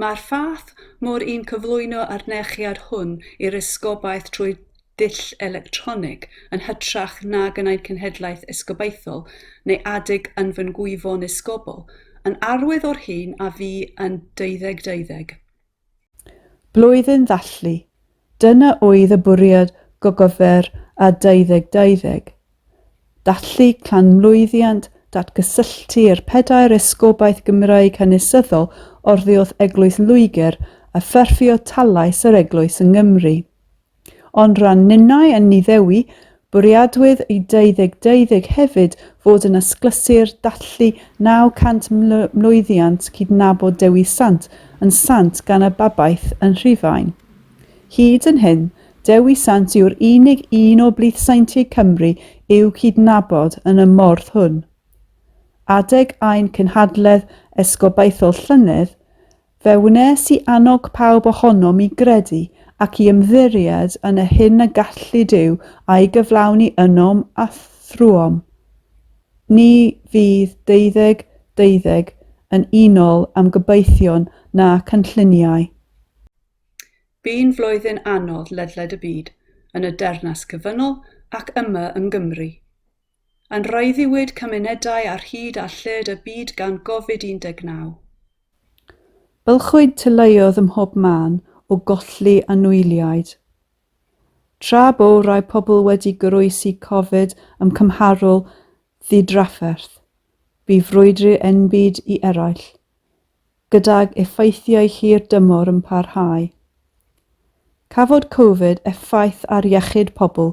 Mae'r fath mor un cyflwyno â'r nechiad hwn i'r esgobaeth trwy ddull electronig, yn hytrach nag yn ein cenhedlaeth esgobaethol neu adeg yn fy ngwyfon esgobol, yn arwydd o'r hyn a fu yn deuddeg deuddeg. Blwyddyn ddathlu, dyna oedd y bwriad gogofer a 2020. Dathlu clanmlwyddiant datgysylltu'r pedair esgobaeth Gymraeg hanesyddol oddiwrth Eglwys Loegr a ffurfio talais yr Eglwys yng Nghymru. Ond ran ninnau yn Niddewi, bwriadwyd i deuddeg deuddeg hefyd fod yn asglysur dathlu 900 mlwyddiant cydnabod Dewi Sant yn sant gan y babaeth yn Rhufain. Hyd yn hyn, Dewi Sant yw'r unig un o blithsaentiaid Cymru i'w cydnabod yn y morth hwn. Adeg ein cynhadledd esgobaethol llynedd, Fe wnes i annog pawb ohonom i gredu ac i ymddiried yn y hyn y gallu Duw a'i gyflawni ynom a thrwom ni fydd deuddeg deuddeg yn unol â'm gobeithion na cynlluniau. Bu'n flwyddyn anodd ledled y byd, yn y Deyrnas Cyfynol ac yma yng Nghymru. Yn rhaeddiwyd cymunedau ar hyd a lled y byd gan Gofid 19. Bylchwyd teuluoedd ym mhob man o golli anwyliaid. Tra bo rai pobl wedi goroesi Cofid ym cymharol ddidrafferth, bu frwydr enbyd i eraill. gydag effeithiau hir dymor yn parhau. Cafodd Covid effaith ar iechyd pobl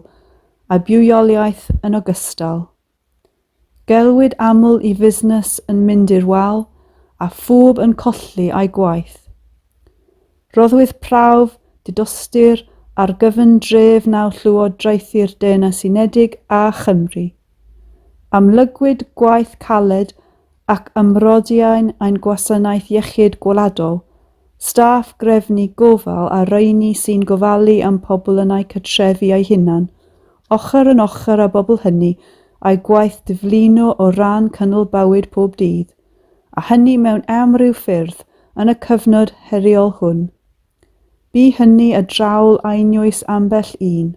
a bywoliaeth yn ogystal. Gelwid aml i fusnes yn mynd i'r wal a phawb yn colli eu gwaith. Rhoddwyd prawf didostur ar gyfundrefn â Llywodraethu'r Deyrnas Unedig a Chymru. Amlygwyd gwaith caled ac ymrodiain ein Gwasanaeth Iechyd Gwladol, staff grefnu gofal a rheini sy'n gofalu am pobl yn eu cartrefi eu hunan, ochr yn ochr â bobl hynny a'u gwaith diflino o ran cynnal bywyd pob dydd. a hynny mewn amryw ffyrdd yn y cyfnod heriol hwn. Bu hynny a draul einioes ambell un.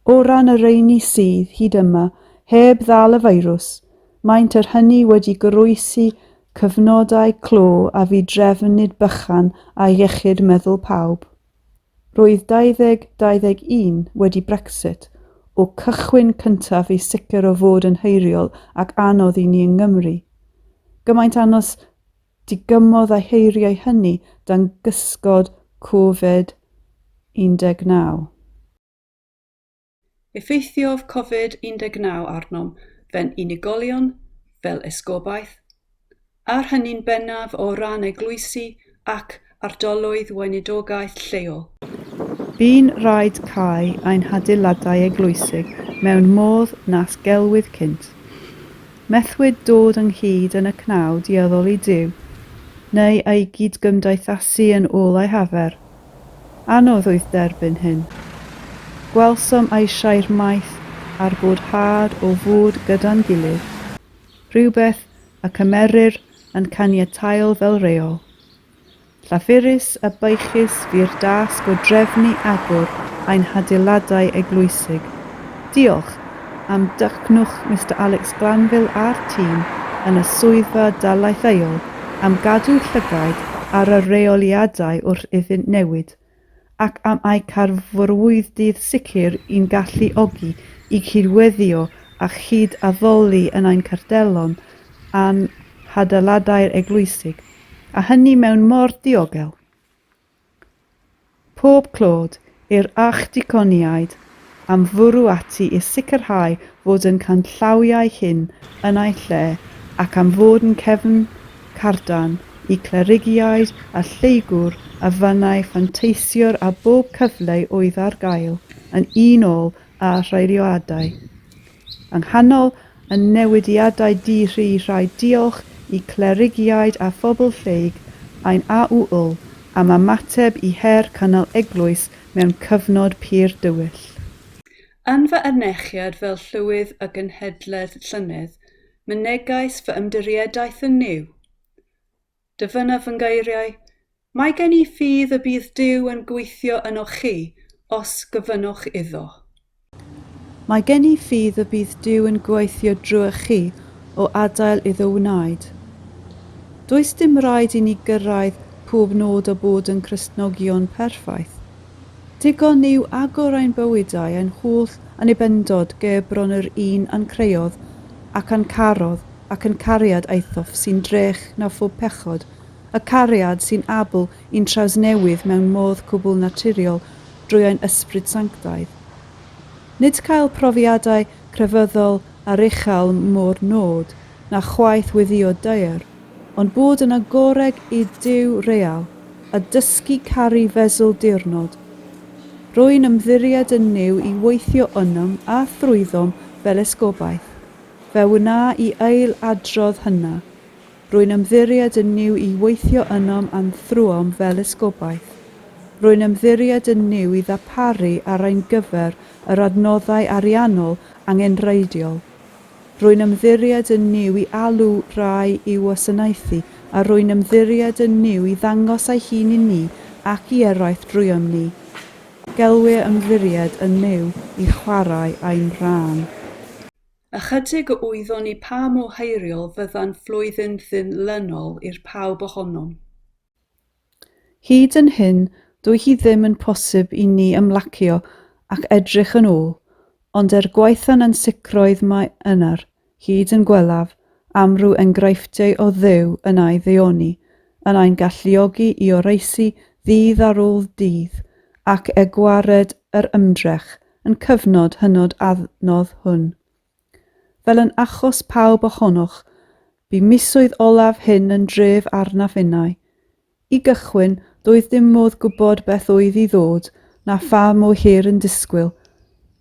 O ran y rheini sydd, hyd yma, heb ddal y feirws, maent er hynny wedi goroesi cyfnodau clo a fu drefn nid bychan ar iechyd meddwl pawb. Roedd 2021 wedi Brexit o cychwyn cyntaf i sicr o fod yn heriol ac anodd i ni yng Nghymru. Gymaint anos digymodd a'i heiriau hynny dan gysgod Covid 19. Effeithiodd Covid 19 arnom fe'n unigolion, fel esgobaeth, a'r hynny'n bennaf o ran eglwysi ac ardaloedd weinidogaeth lleol. Bu'n rhaid cau ein hadeiladau eglwysig mewn modd nas gelwid cynt. Methwyd dod ynghyd yn y cnawd i addoli Duw, neu ei gyd-gymdeithasu yn ôl ei hafer, Anodd oedd derbyn hyn. Gwelsom eisiau'r maeth a'r boddhad o fod gyda'n gilydd, rhywbeth y cymerir yn caniataol fel rheol. Llafurus a baechus fu'r dasg o drefnu agor ein hadeiladau eglwysig. Diolch! am dycnwch Mister Alex Glanville a'r tîm yn y Swyddfa Dalaetheuol am gadw llygaid ar y rheoliadau wrth iddynt newid, ac am eu carfrwyddydd sicr i'n galluogi i gydweithio a chyd-addoli yn ein cartellon a'n hadeiladau'r eglwysig, a hynny mewn modd diogel. Pob clod i'r Archdiconiaid am fwrw ati i sicrhau fod ein canllawiau hyn yn eu lle ac am fod yn cefn cardan i Clerigiaid a Lleygwr a fannau fanteisiwr a bob cyfle oedd ar gael yn unol â rheoliadau Yng nghanol y newidiadau di-ri rhaid diolch i Clerigiaid a phobl Lleyg ein AUL am ymateb i her cynnal eglwys mewn cyfnod pur dywyll. Yn fy ernechiad fel Llywydd y Genhedlaeth llynedd, mynegais fy ymddiriedaeth yn Nuw. Dyfynaf fy ngeiriau, Mae gen i ffydd y bydd Duw yn gweithio ynoch chi os gofynnoch iddo. Mae gen i ffydd y bydd Duw yn gweithio drwy'ch chi o adael iddo wneud. Does dim rhaid i ni gyrraedd pob nod o bod yn Cristnogion perffaith, Digon yw agor ein bywydau ein holl annibendod ger bron yr un a'n creuodd ac a'n carodd, ac yn cariad aethof sy'n drech na phob pechod, y cariad sy'n abl i'n trawsnewid mewn modd cwbl naturiol drwy ein Ysbryd Sanctaidd. Nid cael profiadau crefyddol aruchel mo'r nod, na chwaith weddïo daear. Ond bod yn agoreg i Duw real, a dysgu caru fesul diwrnod. Rwy'n ymddiried yn Nuw i weithio ynom a thrwyddom fel esgobaeth. Fe wna i ail adrodd hynna. Rwy'n ymddiried yn Nuw i weithio ynom a'n thrwom fel esgobaeth. Rwy'n ymddiried yn Nuw i ddaparu ar ein gyfer yr adnoddau ariannol angenrheidiol. Rwy'n ymddiried yn Nuw i alw rhai i'w wasanaethu, a rwy'n ymddiried yn Nuw i ddangos ei hun i ni ac i eraill drwyom ni. Gelwir ymddiried yn Nuw i chwarae ein rhan. Ychydig a wyddon ni pa mor heriol fyddan flwyddyn ddyn-lynol i'r pawb ohonom. Hyd yn hyn, dyw hi ddim yn posib i ni ymlacio ac edrych yn ôl, ond er gwaetha'n ansicroedd mae ynar, hyd yn gwelaf, amryw engraifftei o Dduw yn ai ddeuoni, yn ai'n galluogi i oroesi ddydd ar ôl dydd, ac e gwared yr ymdrech, yn cyfnod hynod adnodd hwn. Fel yn achos pawb ohonoch, bu misoedd olaf hyn yn dref arnaf innau. I gychwyn, doedd dim modd gwybod beth oedd i ddod, na pha mwy hir yn disgwyl,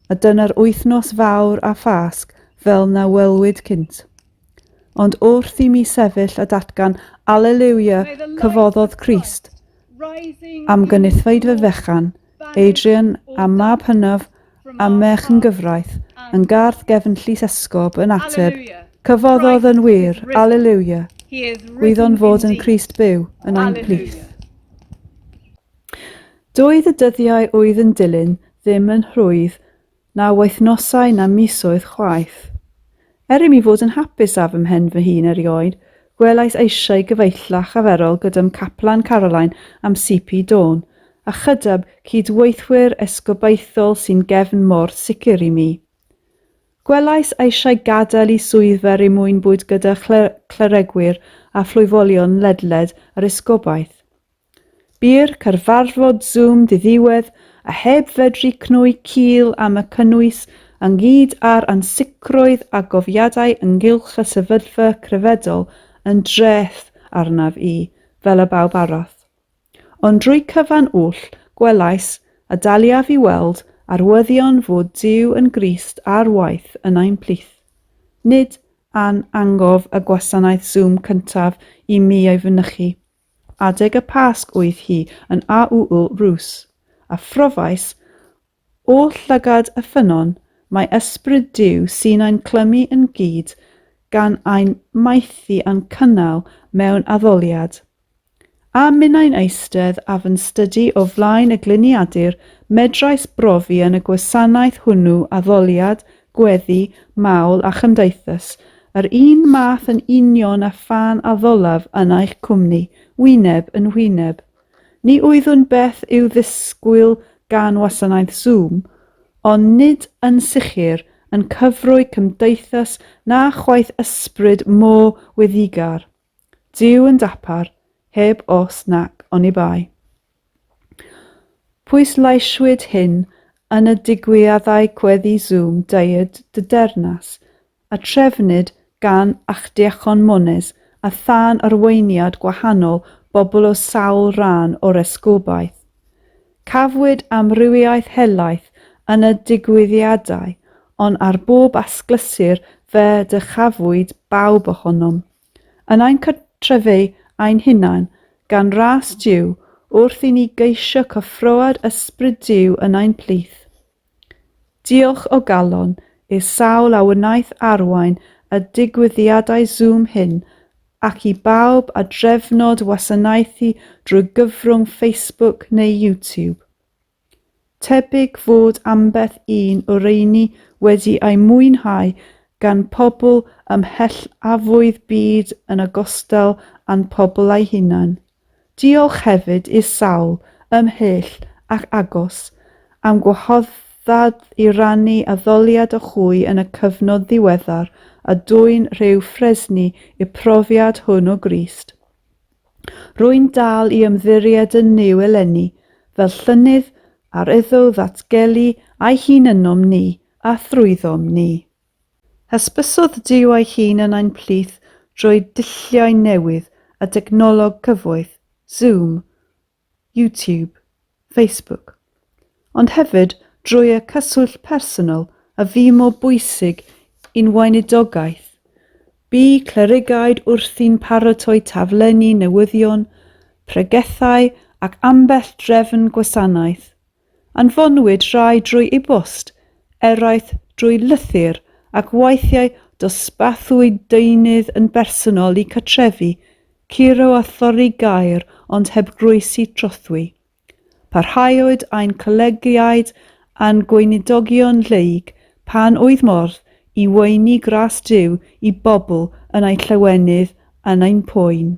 a dyna'r wythnos fawr a Phasg fel na welwyd cynt. Ond wrth i mi sefyll a datgan Aleliwia, cyfoddodd Crist, am gynithfaid fy fechan, Adrian a mab hynaf a merch yn gyfraith, yn garth gefn llys esgob yn ateb, Cyfoddodd yn wir, Alleluia! Gwyddon fod yn Christ byw yn ein plith. Doedd y dyddiau oedd yn dilyn ddim yn rhwydd Na wythnosau na misoedd chwaith. Er i mi fod yn hapus â fy mhen fy hun erioed, gwelais eisiau gyfeillach a arferol gyda'm caplan Caroline am CP Dawn, a chyda'b cyd-weithwyr esgobaethol sy'n gefn mor sicr i mi. Gwelais eisiau gadael i swyddfa er mwyn bwyd gyda chlere, cleregwyr a phlwyfolion ledled yr esgobaeth. Bu'r cyfarfod Zoom ddiddiwedd a heb fedru cnoi cil am y cynnwys, ynghyd â'r ansicrwydd a gofiadau ynghylch y sefyllfa crefyddol yn dreth arnaf i, fel y bawb arall. Ond drwy cyfan oll, gwelais, a daliaf i weld, arwyddion fod Duw yn Grist ar waith yn ein plith. Nid a'n angof y gwasanaeth Zoom cyntaf i mi ei fynychu. Adeg y Pasg oedd hi yn AUU Rus, a phrofais, O llygad y ffynnon, mae Ysbryd Duw sy'n ein clymu yn gyd gan ein maethu a'n cynnal mewn addoliad. A minnau'n eistedd a fy'n stydu o flaen y gliniadur, medrais brofi yn y gwasanaeth hwnnw addoliad gweddi, mawl a chymdeithas, yr un math yn union â phan addolaf yna eich cwmni, wyneb yn wyneb. Ni oeddwn beth i'w ddisgwyl gan wasanaeth Zoom, ond nid yn sicr yn cyfrwy cymdeithas na chwaith ysbryd mo wyddigar. Duw yn dapar, heb os nac oni bai. Pwysleisiwyd hyn yn y digwyddiadau gweddi Zoom Diod dy Dernas a trefnid gan Archddiacon Mones a thân arweiniad gwahanol bobl o sawl rhan o'r esgobaeth. Cafwyd amrywiaeth helaeth yn y digwyddiadau ond ar bob asglysur fe ddychafwyd bawb ohonom. yn ein cartrefi ein hunain, gan ras Duw, wrth i ni geisio cyffroad Ysbryd Duw yn ein plith. Diolch o galon i'r sawl a wnaeth arwain y digwyddiadau Zoom hyn, ac i bawb a drefnodd wasanaethu drwy gyfrwng Facebook neu YouTube. Tebyg fod ambell un o reini wedi ei mwynhau gan pobl ymhell afo'u byd yn ogystal â'n pobl eu hunain. Diolch hefyd i'r sawl, ymhell ac agos, am gwahoddiad i rannu addoliad a hwy yn y cyfnod ddiweddar a dwyn rhyw ffresni i'r profiad hwn o Grist. Rwy'n dal i ymddiried yn Nuw eleni fel llynnydd ar iddo ddatgelu a'i hun ynom ni a thrwyddom ni. Hysbysodd Duw ei hun yn ein plith drwy dulliau newydd a dechnoleg cyfoeth, Zoom, YouTube, Facebook, ond hefyd drwy y cyswllt personol a fu mor bwysig i'n weinidogaeth. Bu clerigaid wrthi'n paratoi taflenni newyddion, pregethau ac ambell drefn gwasanaeth. Anfonwyd rhai drwy e-bost, eraill drwy lythyr ac weithiau dosbarthwyd deunydd yn bersonol i cartrefi, curo a thorri gaer ond heb groesi trothwy. Parhaodd ein collegiaid a'n gweinidogion lleyg pan oedd modd i weini gras Duw i bobl yn eu llawenydd yn ein poen.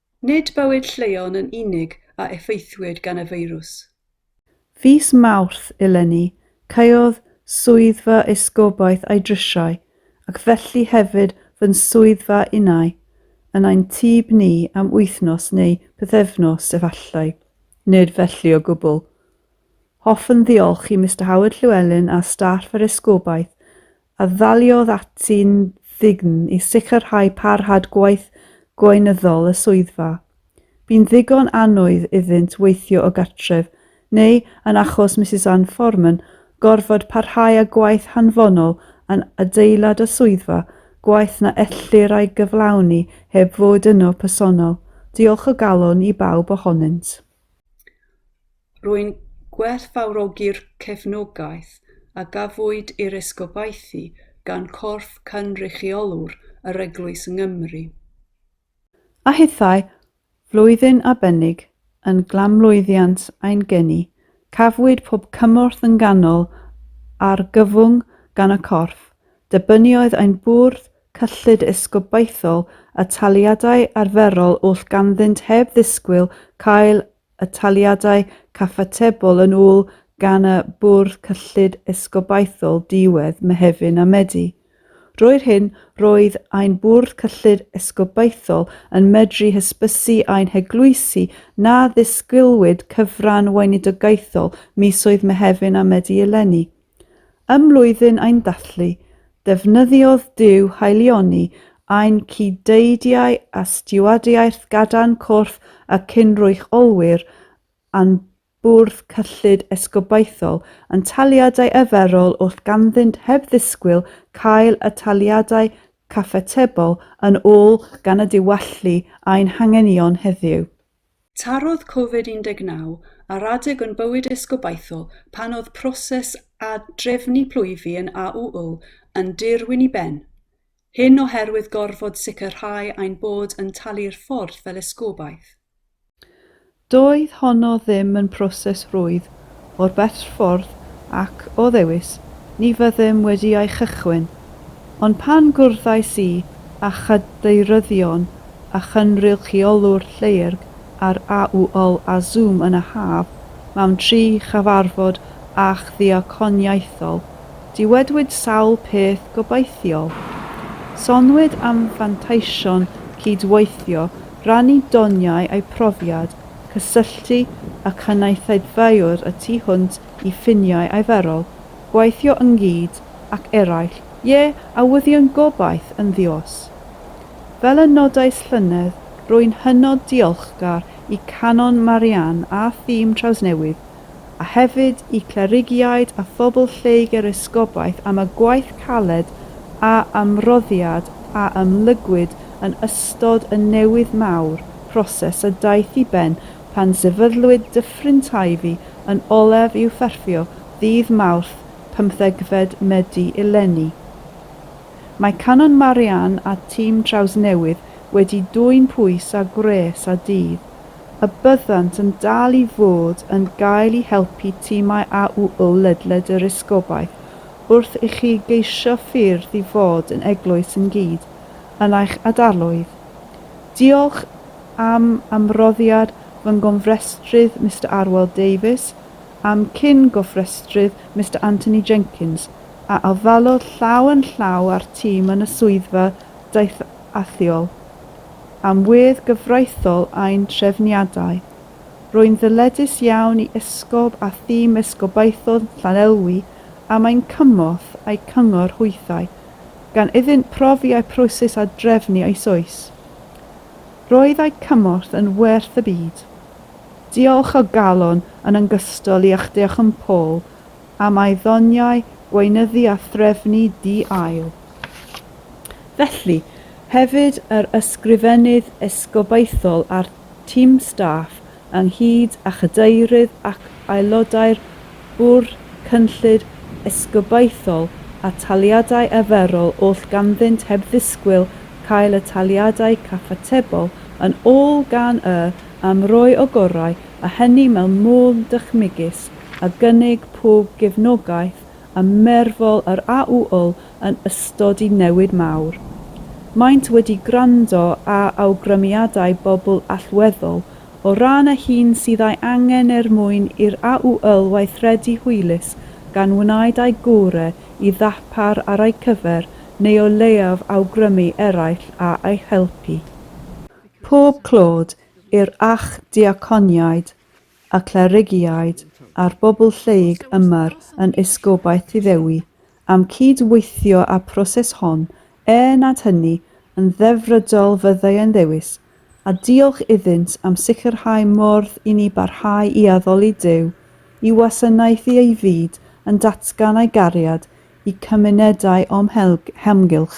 Nid bywyd lleion yn unig a effeithiwyd gan y feirws. Fis Mawrth eleni, caeodd swyddfa esgobaeth a'i drisiau, ac felly hefyd fy nswyddfa innau, yn ein tŷ ni am wythnos neu bythefnos efallai. Nid felly o gwbl. Hoffwn ddiolch i Mister Howard Llewelyn a staff yr esgobaeth a ddaliodd ati'n ddign i sicrhau parhad gwaith gweinyddol y swyddfa. Bu'n ddigon annoeth iddynt weithio o gartref, neu, yn achos Misus Ann Foreman, gorfod parhau â gwaith hanfonol yn adeilad y swyddfa, gwaith na ellir ei gyflawni heb fod yno personol. Diolch o galon i bawb ohonynt. Rwy'n gwerthfawrogi'r cefnogaeth a gafwyd i'r esgobaethu gan Corff Cynrychiolwyr yr Eglwys yng Nghymru. A hithau, flwyddyn arbennig, yn glanmlwyddiant ein geni, cafwyd pob cymorth yn ganol argyfwng gan y Corff, derbyniodd ein Bwrdd Cyllid Esgobaethol y taliadau arferol oll ganddynt heb ddisgwyl cael y taliadau cyfatebol yn ôl gan y Bwrdd Cyllid Esgobaethol diwedd Mehefin a Medi. Drwy'r hyn, roedd ein Bwrdd Cyllid Esgobaethol yn medru hysbysu ein heglwysi na ddisgwylwyd cyfran weinidogaethol misoedd Mehefin a Medi eleni. Ym mlwyddyn ein dathlu, defnyddiodd Duw haelioni ein cyd-deidiau a stiwardiaeth gadarn corff y cyn-rwystolwyr a'n Bwrdd Cyllid Esgobaethol yn taliadau arferol wrth ganddynt heb ddisgwyl cael y taliadau cyfatebol yn ôl gan y diwallu ein hanghenion heddiw. Tarodd Covid 19 ar adeg o'n bywyd is gobaithol pan oedd proses ad-drefnu plwyfi yn AUU yn dirwyn i ben, hyn oherwydd gorfod sicrhau ein bod yn talu'r ffordd fel esgobaeth. Doedd honno ddim yn proses rwydd o'r Betffordd ac, o ddewis, ni fyddem wedi ei chychwyn. Ond pan gwrddais i â chadeiryddion a chynrychiolwr Lleuyrg ar AUOL a Zoom yn y haf, mewn tri chyfarfod archddiaconiaethol, dywedwyd sawl peth gobeithiol. Soniwyd am fanteision cyd-weithio, rannu doniau a'u profiad, cysylltu â chynulleidfaoedd y tu hwnt i ffiniau arferol, gweithio ynghyd ac eraill, ie, a wyddio'n gobaith yn ddi-os. Fel y nodais llynedd, rwy'n hynod diolchgar i Canon Marianne a thîm Trawsnewid a hefyd i Clerigiaid a phobl lleyg yr Esgobaeth am y gwaith caled a ymroddiad a ymlygwyd yn ystod y newydd mawr, proses a daeth i ben pan sefydlwyd Dyffryn Teifi yn olaf i'w pherffio ddydd Mawrth pymthegfed Medi eleni. Mae Canon Marianne a tîm Trawsnewydd wedi dwyn pwys a gwres a dydd y byddant yn dal i fod yn gael i helpu timau AUO ledled yr Esgobaeth wrth i chi geisio ffyrdd i fod yn eglwys yn gyd yn eich adarloedd. Diolch am ymroddiad fy nghofrestrydd Mister Arwel Davies a'm cyn gofrestrydd Mister Anthony Jenkins, a ofallodd llaw yn llaw â'r tîm yn y Swyddfa Daethiol. am wedd gyfreithiol ein trefniadau. Rwy'n ddyledus iawn i Esgob a thîm Esgobaethon Llanelwy am ein cymorth a'u cyngor hwythau, gan iddynt profi a'u proses a drefnu eisoes. Roedd a'u cymorth yn werth y byd. Diolch o galon yn yngystol i a'ch deoch yn Paul am ei ddoniau gweinyddu a threfnu di-ail. Felly, hefyd yr Ysgrifennydd Esgobaethol a'r tim staff ynghyd â Chadeirydd ac Aelodau'r Bwrdd Cynllid Esgobaethol a Taliadau Arferol oll ganddynt heb ddisgwyl cael y taliadau cyfatebol yn ôl gan y am roi o gorau a hynny mewn modd dychmygus. a gynnig pob gefnogaeth ym merfol yr AUUL yn ystod y newid mawr. Maent wedi gwrando a awgrymiadau bobl allweddol o ran y hyn sydd a'i angen er mwyn i'r AUUL weithredu hwylus gan wnaed â'i gore i ddarpar ar ei cyfer neu o leiaf awgrymu eraill a ei helpu. Pob clod i'r Archddiaconiaid a clerigiaid a'r bobl lleyg yma'r yn Esgobaeth Iddewi am cyd weithio a proses hon er nad hynny yn ddefrydol fyddai e'n ddewis a diolch iddynt am sicrhau mordd i ni barhau i addoli Duw i wasanaethu ei fyd yn datgan a'i gariad i cymunedau o'm hamgylch.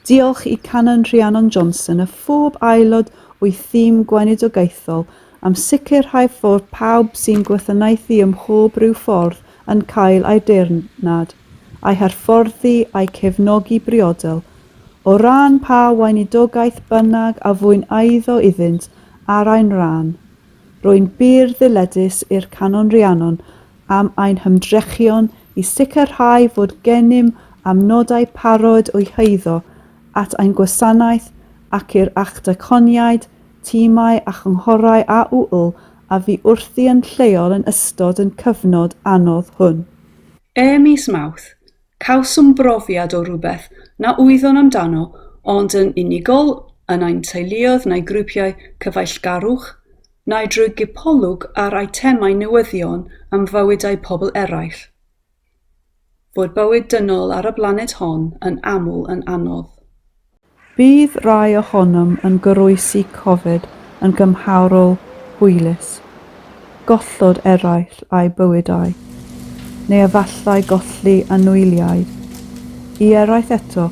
Diolch i Canon Rhiannon Johnson a phob aelod o'i thîm gweinidogaethol am sicrhau fod pawb sy'n gwasanaethu ym mhob rhyw ffordd yn cael aeddfednad, a'i hyfforddi a'i cefnogi briodol, o ran pa weinidogaeth bynnag a fu'n eiddo iddynt ar ein rhan. Rwy'n bur ddyledus i'r Canon Rhiannon am ein hymdrechion i sicrhau fod gennym amnodau parod o'u heiddo at ein gwasanaeth ac i'r actaconiaid, timau a chynghorau a ŵyl a fu wrthi yn lleol yn ystod yn cyfnod anodd hwn. Ym mis Mawrth, cawsom brofiad o rywbeth na wyddon amdano ond yn unigol yn ein teuluoedd neu grwpiau cyfeillgarwch, neu drwy gipolwg ar eitemau newyddion am fywydau pobl eraill. Fod bywyd dynol ar y blaned hon yn aml yn anodd. Bydd rhai ohonom yn goroesi cofid yn gymharol hwylus, gollod eraill a'u bywydau, neu efallai golli anwyliaid. I eraill eto,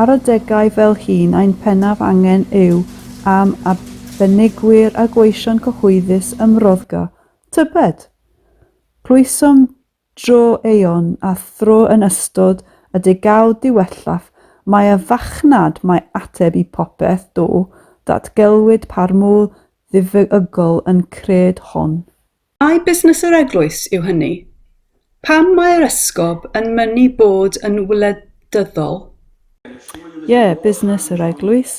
Ar adegau fel hyn ein pennaf angen yw am arbenigwyr a gweision cyhoeddus ymroddga, tybed? Clwysom dro aeon a thro yn ystod y degawd ddiwethaf mai y fachnad mae ateb i popeth do ddatgelwyd pa'r mwl ddiffyg-ygol yn cred hon. Mai busnes yr eglwys yw hynny. Pam mae'r esgob yn mynnu bod yn wledyddol? Ie, busnes yr eglwys.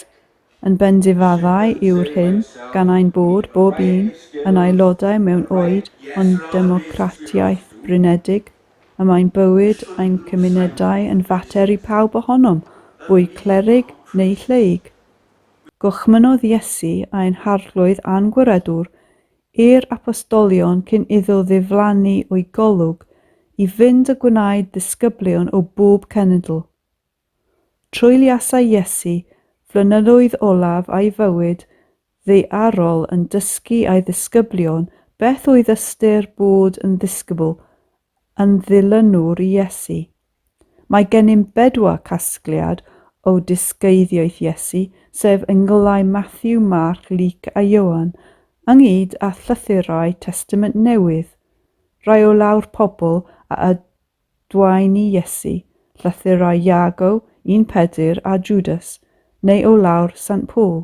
Yn bendifaddau yw'r hyn gan ein bod bob un yn aelodau mewn oed o'n democratiaeth blinedig, y mae'n bywyd ein cymunedau yn fater i pawb ohonom, fwy clerig neu lleyg. Gorchmynnodd Iesu ein harglwydd a'n gwiredwr I'r Apostolion cyn iddo ddiflannu o'i golwg i fynd a gwnaed ddisgyblion o bob cenedl. Treuliasai Iesu flynyddoedd olaf a'i fywyd ddaearol yn dysgu a'i ddisgyblion beth oedd ystyr bod yn ddisgybl, yn ddilynwr i Iesu. Mae gennym bedwar casgliad o dysgeiddioeth Iesu, sef Engylau Mathew, Marc, Luc a Ioan, ynghyd â llythyrau Testament Newydd, rhai o law'r pobl a adwaen i Iesu, llythyrau Iago, un Pedr a Jwdas, neu o law'r Sant Paul.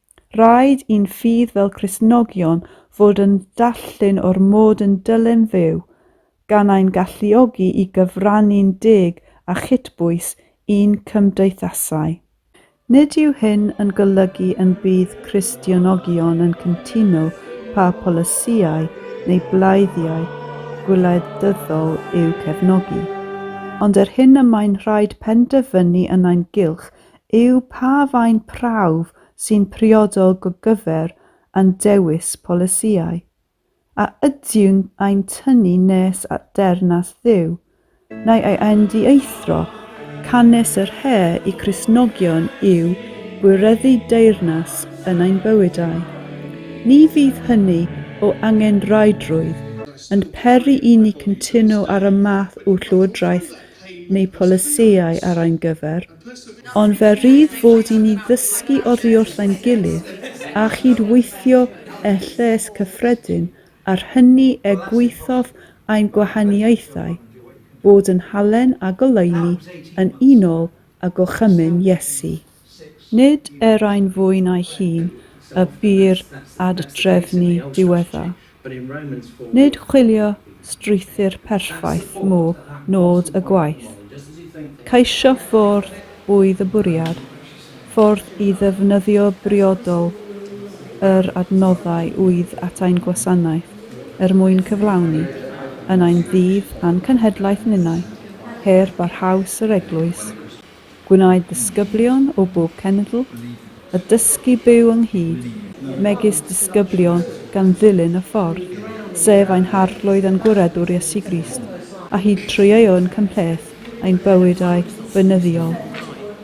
Rhaid i'n ffydd fel Cristnogion fod yn dalltun o'r mod yn dylem fyw, gan ein galluogi i gyfrannu'n deg a chytbwys i'n cymdeithasau. Nid yw hyn yn golygu yn bydd Cristionogion yn cyntuno pa polisïau neu blaeddiau gwleidyddol i'w cefnogi, ond er hyn y mae'n rhaid penderfynu yn ein gylch yw pa faint prawf sy'n priodol go gyfer a'n dewis polisïau. A ydywn a'n tynnu nes at Deyrnas Dduw, neu ei endiaethro, canys yr her i Gristnogion yw gwireddu deyrnas yn ein bywydau. Ni fydd hynny o angenrhaidrwydd yn peri i ni cyntuno ar y math o Lywodraeth neu polisïau ar ein gyfer, ond fe rydd fod i ni ddysgu oddiwrth ein gilydd a chyd-weithio â lles cyffredin a'r hynny er gwaethaf ein gwahaniaethau, bod yn halen a goleuni yn unol â gorchymyn Iesu. Nid erai'n fwy na'i hun y bu'r ad-drefnu diweddar. Nid chwilio strwythur perffaith mo nod y gwaith. Ceisio ffordd oedd y bwriad, ffordd i ddefnyddio briodol yr adnoddau oedd at ein gwasanaeth er mwyn cyflawni, yn ein ddydd a'n cenhedlaeth ninnau, her barhaus yr Eglwys. Gwnaed disgyblion o bob cenedl y dysgu byw ynghyd, megis disgyblion gan ddilyn y Ffordd, sef ein Harglwydd a'n Gwiredwr Iesu Grist, a hyd trwy ei ŵyn cymhleth ein bywydau beunyddiol,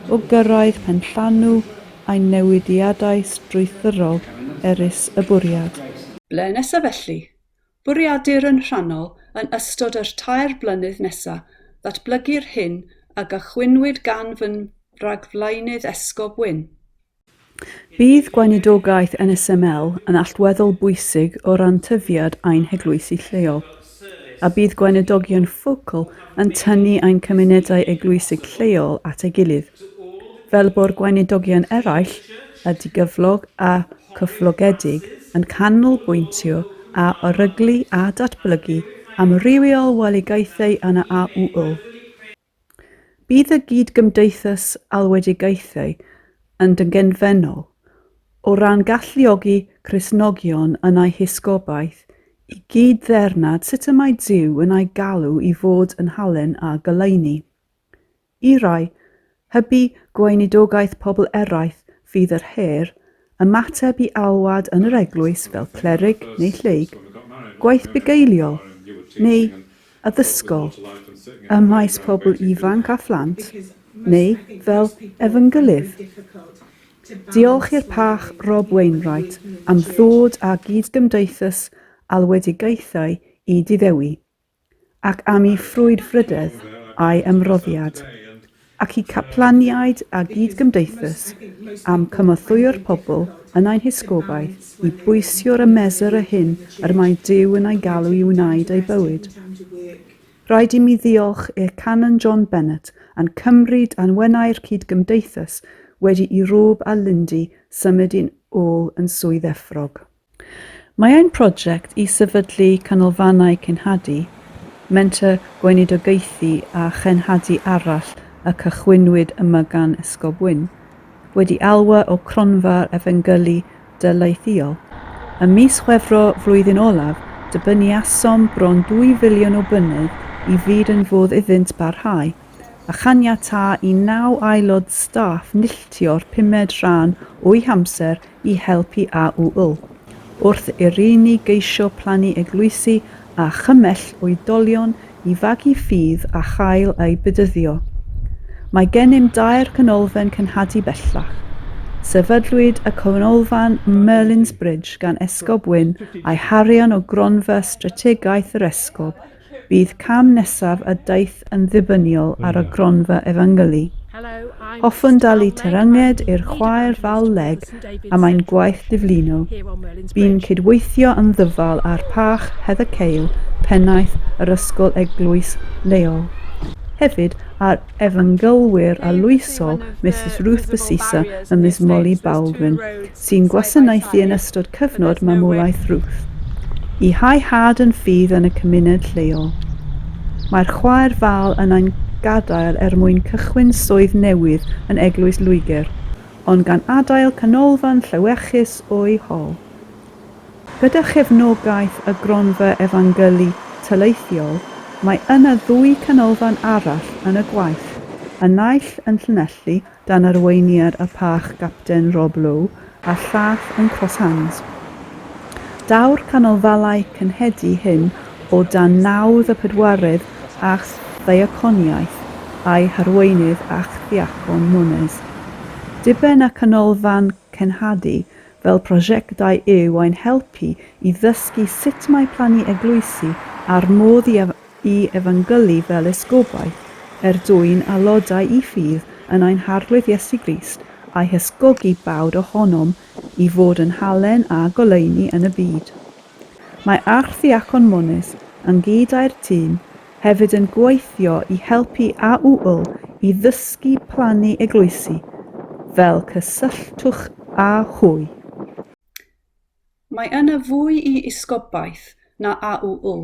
o gyrraedd penllanw ein newidiadau strwythurol erys y bwriad. Ble nesaf felly? Bwriedir yn rhannol yn ystod yr tair blynedd nesa ddatblygu'r hyn a gychwynwyd gan fy nragflaenydd Esgob Wyn. Bydd gweinidogaeth NSML yn allweddol bwysig o ran tyfiad ein heglwysi lleol, a bydd gweinidogion ffocl yn tynnu ein cymunedau eglwysig lleol at ei gilydd, fel bo'r gweinidogion eraill a digyflog a chyflogedig yn canolbwyntio a oryglu a datblygu amrywiol welegaethau yna a ŵyl. Bydd y gyd-gymdeithas alwedigaethau yn dyngenfennol o ran galluogi Cristnogion yn eu hysgobaeth i gyd-ddeyrnad sut y mae Duw yn eu galw i fod yn halen a goleuni. I rai, hybu gweinidogaeth pobl eraill fydd yr her, ymateb i alwad yn yr eglwys fel clerig neu lleyg, gwaith bugeiliol, neu addysgol, ym maes pobl ifanc a phlant, neu fel efengylydd. Diolch i'r Pach Rob Wainwright am ddod â gyd-gymdeithas alwedigaethau i Diddewi. ac am ei frwdfrydedd a'i ymroddiad, ac i caplaniaid a gyd-gymdeithas am cymothwyo'r pobl yn ein hysgobaeth i bwysio'r ymesr y hyn yr mae Duw yn ei galw i wneud ei bywyd. Rhaid i mi ddiolch i'r Canon John Bennett a'n cymryd a'n wenau'r cyd-gymdeithas wedi i Rob a Lindy symud yn ôl yn Swydd Efrog. Mae ein prosiect i sefydlu canolfannau cenhadu, menter gweinidogaethu a chenhadu arall a chychwynnwyd yma gan Esgob Wyn, wedi elwa o Cronfa'r Efengylu Daleithiol. Ym mis Chwefror flwyddyn olaf, dibyniasom bron dwy filiwn o bunnoedd i fyd yn fodd iddynt barhau. a chaniatáu i naw aelod staff milltio'r pumed rhan o'u hamser i helpu â'u ŵyl, wrth i'r rheiny geisio plannu eglwysi a chymell oedolion i fagu ffydd a chael eu bedyddio. Mae gennym dair canolfan cenhadu bellach. Sefydlwyd y canolfan Merlin's Bridge gan Esgob Wynne a'i harian o Gronfa Strategaeth yr Esgob, Bydd cam nesaf a daeth yn ddibyniol ar y gronfa efengylu. Hoffwn dalu terynged i'r chwaer ddal leg am ein gwaith diflino. Bu'n cydweithio yn ddyfal â'r Pach Heather Cale, Pennaeth yr Ysgol Eglwys leol. Hefyd â'r efengylwyr arloesol Misus Ruth Basisa a Miss Molly Baldwin, sy'n gwasanaethu yn ystod cyfnod mamolaeth Ruth, i hau had yn ffydd yn y cymuned lleol. Mae'r chwaer Val yn ein gadael er mwyn cychwyn swydd newydd yn Eglwys Lwygr, ond gan adael canolfan llewyrchus o'u hol. Gyda chefnogaeth y Gronfa Efangeli Taleithiol, mae yna ddwy canolfan arall yn y gwaith, y naill yn Llanelli dan arweiniad y Pach Gapten Rob Lowe a'r Llath yn Cross Hands. Daw'r canolfalau cynhedu hyn o dan nawdd y pedwaredd Acht Ddiaconiaeth a'i harweinydd Archddiacon Nunes. Diben y canolfan cenhadu fel prosiectau yw ein helpu i ddysgu sut mae plannu eglwysi a'r modd i i efengylu fel esgobau, er dwyn a lodau i ffydd yn ein Harglwydd Iesu Grist, a'i hysgogi bawd ohonom i fod yn halen a goleuni yn y byd. Mae Archddiacon Mones, ynghyd âi'r tîm, hefyd yn gweithio i helpu AUL i ddysgu plannu eglwysi, fel cysylltwch â hwy. Mae yna fwy i Esgobaeth na AUU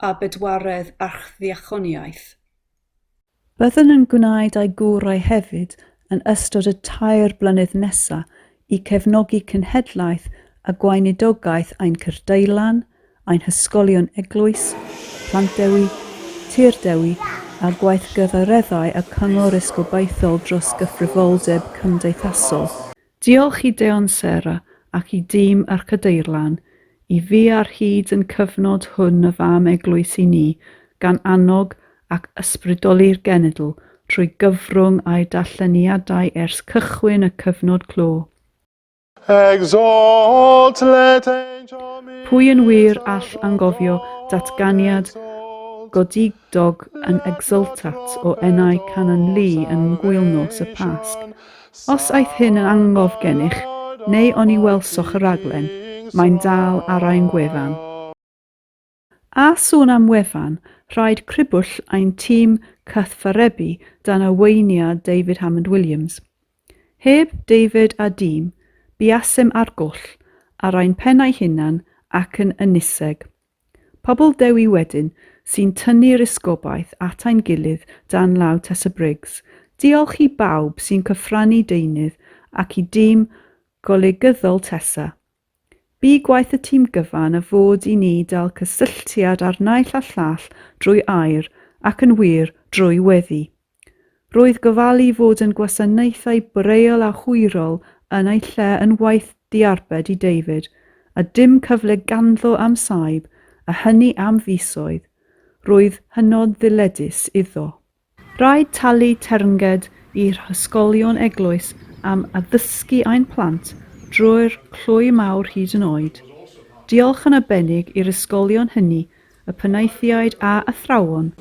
a bedwaredd Archddiaconiaeth. Byddwn yn gwneud â'i gorau hefyd yn ystod y tair blynedd nesa' i cefnogi cenhedlaeth a gweinidogaeth ein cyrdylan, ein hysgolion eglwys, Plant Dewi, Tir Dewi, a gweithgareddau y Cyngor Esgobaethol dros gyfrifoldeb cymdeithasol. Diolch i Deon Sarah ac i dîm Yr Cadeirlan i fi ar hyd yn cyfnod hwn y fam eglwys i ni gan annog ac ysbrydoli'r genedl trwy gyfrwng a'i darlleniadau ers cychwyn y cyfnod clo. Exalt, let angel Pwy yn wir all angofio datganiad godidog Dog yn exultat o enau Canon Lee yn ngwyl nos y Pasg. Os aeth hyn yn angof gennych, neu oni welsoch y raglen, mae'n dal ar ein gwefan. A sôn am wefan, rhaid cribwll ein tîm cythfarebu dan arweiniad David Hammond Williams. Heb David a dîm, buasem ar goll, ar ein pennau hunan ac yn ynyseg. Pobl Dewi wedyn sy'n tynnu'r esgobaeth at ein gilydd dan law Tessa Briggs. Diolch i bawb sy'n cyfrannu deunydd ac i dîm golygyddol Tessa. Bu gwaith y tîm gyfan a fod i ni dal cysylltiad â'r naill a llall drwy air ac yn wir drwy weddi. Roedd gofalu fod yn gwasanaethau braille a hwyrol yn ei lle yn waith diarbed i David, a dim cyfle ganddo am saib, a hynny am fisoedd. Roedd hynod ddyledus iddo. Rhaid talu teyrnged i hysgolion eglwys am addysgu ein plant drwy'r clwy mawr hyd yn oed. Diolch yn arbennig i'r ysgolion hynny y penaethiaid a athrawon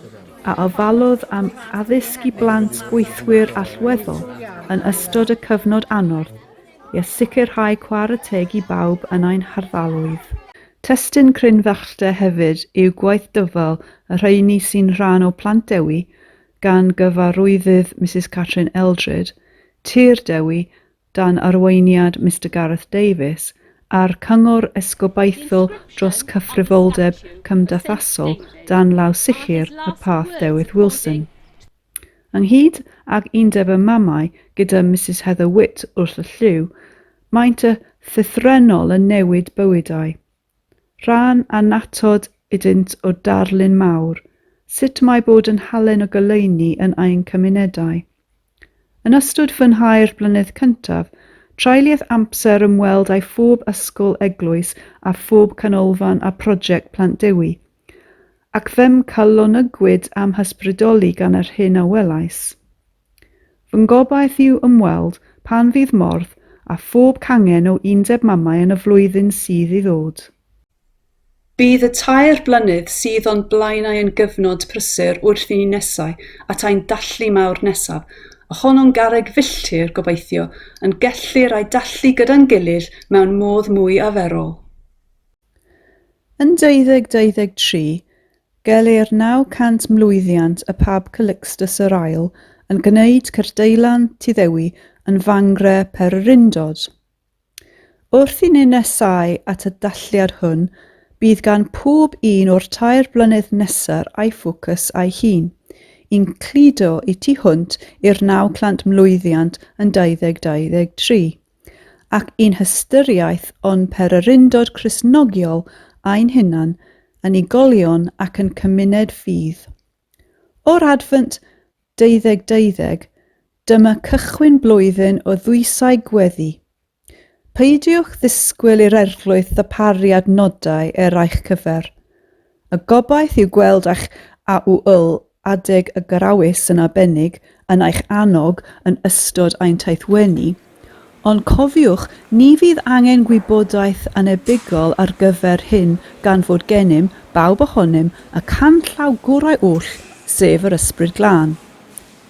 a ofallodd am addysg i blant gweithwyr allweddol yn ystod y cyfnod anodd i a sicrhau chwarae teg i bawb yn ein hardaloedd. Testun crynfachder hefyd yw gwaith dyfal y rheiny sy'n rhan o Plant Dewi gan Gyfarwyddyd Misus Catrin Eldred, Tir Dewi, dan arweiniad Mister Gareth Davies, a'r Cyngor Esgobaethol dros Cyfrifoldeb Cymdeithasol dan law sicr y Path Dewitt Wilson. Ynghyd ag Undeb y Mamau gyda Misus Heather Witt wrth y llyw, maent y llythrennol yn newid bywydau, Rhan annatod ydynt o darlun mawr sut mae bod yn halen o goleuni yn ein cymunedau. Yn ystod fy nhair blynedd cyntaf, treuliais amser ymweld â phob ysgol, eglwys a phob canolfan â Project Plant Dewi, ac fe'm calonogwyd a'm hysbrydoli gan yr hyn a welais. Fy ngobaith yw ymweld, pan fydd modd, â phob cangen o Undeb Mamau yn y flwyddyn sydd i ddod. Bydd y tair blynedd sydd o'n blaenau yn gyfnod prysur wrth i ni nesáu at ein dallu mawr nesaf, a honno'n garreg filltir, gobeithio, yn gellir a'i dallu gyda'n gilydd mewn modd mwy arferol. Yn 2023, gelir 900 mlwyddiant y Pab Calixtus yr Ail yn gwneud cyrdeillan Tyddewi yn Fangre Pererindod. Wrth i ni nesáu at y dathliad hwn, bydd gan pob un o'r tair blynedd nesaf ei ffocws ei hun, i'n cludo y tu hwnt i'r 900 mlwyddiant yn 2023. ac i'n hystyriaeth o'n pererindod Cristnogiol ein hunan, yn igolion ac yn cymuned ffydd. O'r Adfent deuddeg deuddeg, dyma cychwyn blwyddyn o ddwysau gweddi. Peidiwch ddisgwyl i'r Eglwys ddarparu adnodau er eich cyfer. Y gobaith yw gweld eich AUL adeg y Garawys yn arbennig yn eich annog yn ystod ein taithwenni, ond cofiwch, ni fydd angen gwybodaeth annebygol ar gyfer hyn gan fod gennym bawb ohonym y canllaw gorau oll, sef yr Ysbryd Glân.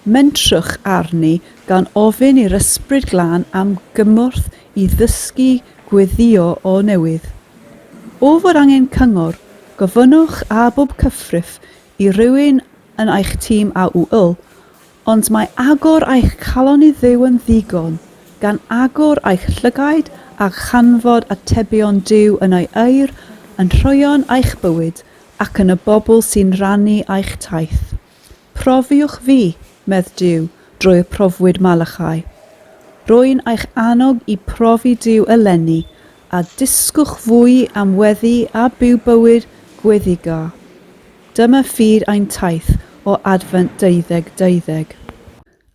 Mentrwch arni gan ofyn i'r Ysbryd Glân am gymorth i ddysgu gweddïo o newydd. O fod angen cyngor, gofynnwch â bob cyffrif i rywun yn eich tîm AUL, ond mae agor eich calon i Dduw yn ddigon, gan agor eich llygaid a chanfod atebion Duw yn ei air, yn rhoeon eich bywyd, ac yn y bobl sy'n rhannu eich taith. Profiwch fi, medd Duw, drwy y profwyd Malachai. Rwy'n eich annog i profi Duw eleni, a dysgwch fwy am weddi a byw bywyd gweddïgar. Dyma fyd ein taith o Adfent Deuddeg Deuddeg.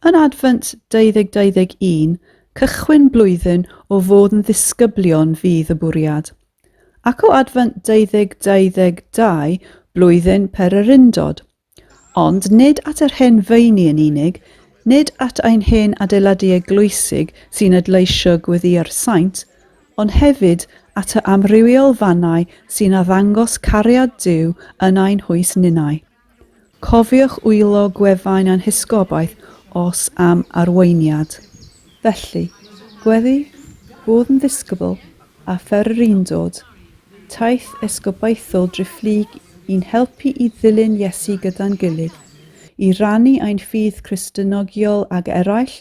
Yn Adfent Deuddeg Deuddeg Un, cychwyn blwyddyn o fod yn ddisgyblion fydd y bwriad. ac o Advent 2022 blwyddyn pererindod, ond nid at yr hen feini yn unig, nid at ein hen adeiladu eglwysig sy'n adleisio gweddïau'r saint, ond hefyd at y amrywiol fannau sy'n addangos cariad Duw yn ein hwys ninnau. Cofiwch wylo gwefan ein hysgobaeth os am arweiniad. Felly, gweddi, bwrdd yn ddisgybl, a pher yr undod, taith esgobaethol driphlyg i'n helpu i ddilyn Iesu gyda'n gilydd, i rannu ein ffydd Cristnogiol ag eraill,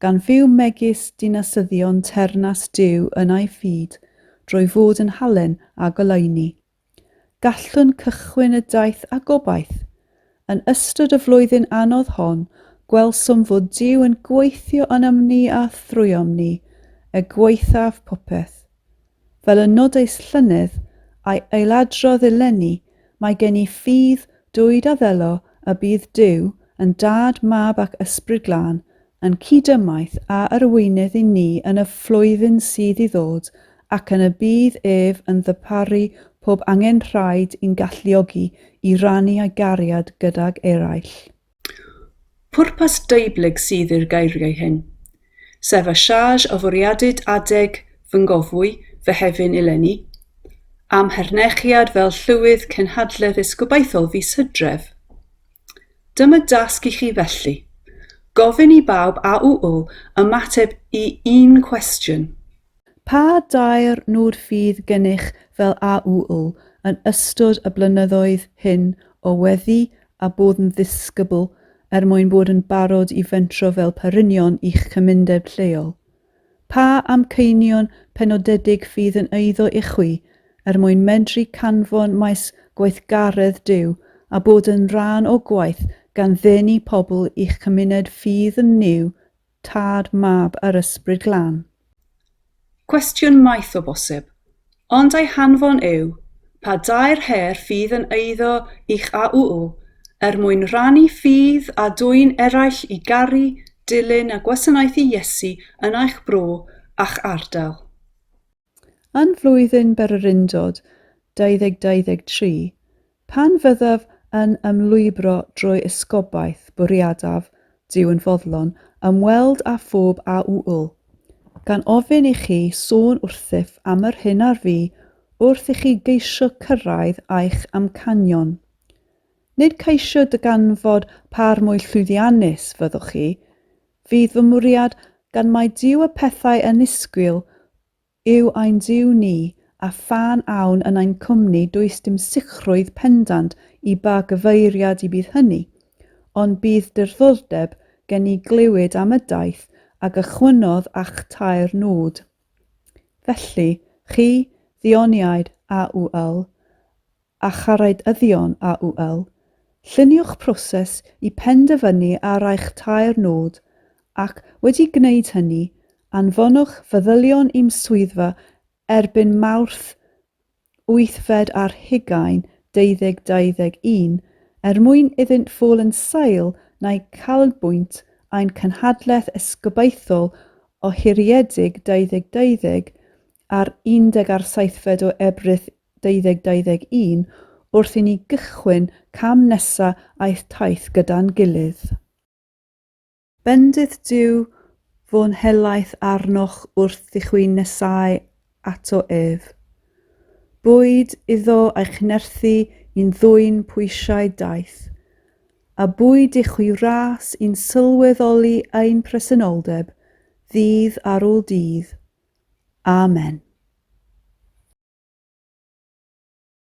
gan fyw megis dinasyddion teyrnas Duw yn ei fyd, drwy fod yn halen a goleuni. Gallwn cychwyn y daith â gobaith. Yn ystod y flwyddyn anodd hon, gwelsom fod Duw yn gweithio ynom ni a thrwyom ni, er gwaethaf popeth. Fel y nodais llynedd, a'i ailadrodd eleni, mae gen i ffydd dwyd a ddelo y bydd Duw yn Dad, Mab ac Ysbryd Glân yn cyd-ymaith â arweinydd i ni yn y flwyddyn sydd i ddod ac yn y bydd ef yn ddarparu pob angenrhaid i'n galluogi i rannu ei gariad gydag eraill. Pwrpas deublyg sydd i'r geiriau hyn, sef a charge o fwriadid adeg fy ngofwy, fy hefin eleni, a'm hernechiad fel Llywydd Cenhadledd is gobeithiol fis Hydref. Dyma dasg i chi felly, gofyn i bawb a'u ymateb i un cwestiwn. Pa dair nod fydd gennych fel a'u yn ystod y blynyddoedd hyn o weddi a bod yn ddisgybl er mwyn bod yn barod i fentro fel perrynion i'ch cymundeb lleol? Pa amcanion penodedig fydd yn eiddo ichwi er mwyn medru canfon maes gweithgaredd Duw a bod yn rhan o gwaith gan ddenu pobl i'ch cymuned ffydd yn Nuw, Tad, Mab, a'r Ysbryd Glân? Cwestiwn maith o bosib, Ond ei hanfon yw, pa dair her fydd yn eiddo i'ch AUU, er mwyn rhannu ffydd â dwyn eraill i garu, dilyn a gwasanaethu Iesu yn eich bro a'ch ardal. Yn Flwyddyn Bererindod 2023, Pan fyddaf yn ymlwybro drwy esgobaeth, bwriadaf, Duw yn foddlon, ymweld â phob a ŵyl, gan ofyn i chi sôn wrthyf am yr hyn ar fi wrth i chi geisio cyrraedd a'ch amcanion. Nid ceisio dyganfod pâr mwy llwyddiannus fyddwch chi, fydd fy mwriad, gan mai Duw y pethau annisgwyl yw ein Duw ni, a phan awn yn ein cwmni does dim sicrwydd pendant i ba gyfeiriad y bydd hynny, ond bydd diddordeb gen i glywed am y daith a gychwynnodd â'ch tair nod. Felly, chi, ddioniaid, AUL, a charraedyddion AUL, lluniwch proses i penderfynu ar eich tair nod ac, wedi gwneud hynny, anfonwch feddylion i'm swyddfa erbyn Mawrth wythfed ar hugain deuddeg deuddeg un er mwyn iddynt fod yn sail na'u canolbwynt ein cynhadledd esgobaethol ohiriedig deuddeg deuddeg ar undeg ar seithfed o Ebrill 2021 wrth i ni gychwyn cam nesa aeth taith gyda'n gilydd. Bendith Duw fo'n helaeth arnoch wrth i chwi nesáu ato ef. Bwyd iddo a'i chnerthu i'n ddwyn pwysiau daeth, a bwyd i chwi wrás i'n sylweddoli ein presenoldeb ddydd ar ôl dydd Amen.